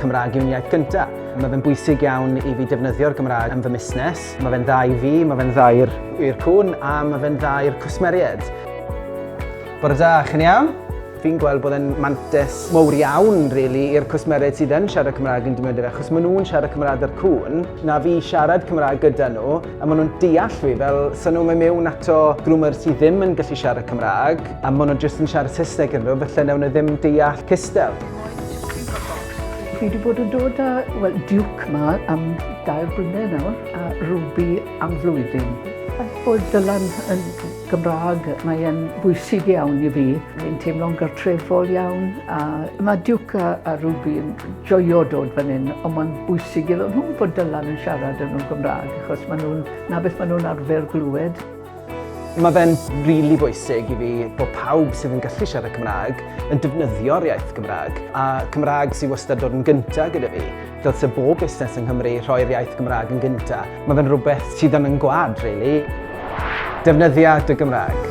Cymraeg yw'n iaith gynta. Mae fe'n bwysig iawn i fi defnyddio'r Gymraeg yn fy musnes. Mae fe'n dda i fi, mae fe'n dda i'r i'r cwn a mae fe'n dda i'r cwsmeriaid. Bore da, chi'n iawn? Fi'n gweld bod e'n mantes mowr iawn, really, i'r cwsmeriaid sydd yn siarad Cymraeg yn defnyddio fe, achos maen nhw'n siarad Cymraeg â'r cwn, na fi siarad Cymraeg gyda nhw, a maen nhw'n deall fi, fel so nhw'n mynd mewn ato grwmer sydd ddim yn gallu siarad Cymraeg, a maen nhw'n jyst yn siarad Saesneg yn nhw, felly newn nhw ddim deall cystel. Fi wedi bod yn dod â well, Duke ma am dair blynedd nawr a Ruby am flwyddyn. Faint bod Dylan yn Gymraeg, mae e'n bwysig iawn i fi. Fi'n teimlo'n gartrefol iawn a mae Duke a, a Ruby yn joio dod fan hyn ond mae'n bwysig iddyn nhw bod Dylan yn siarad yn nhw'n Gymraeg achos maen nhw'n na beth maen nhw'n arfer glywed. Mae fe'n rili bwysig i fi bod pawb sydd yn gallu siarad Cymraeg yn defnyddio'r iaith Gymraeg, a Cymraeg sydd wastad dod yn gynta gyda fi. Dylse bob busnes yng Nghymru rhoi'r iaith Gymraeg yn gynta. Mae fe'n rhywbeth sydd yn yn gwlad, rili. Defnyddia dy Gymraeg.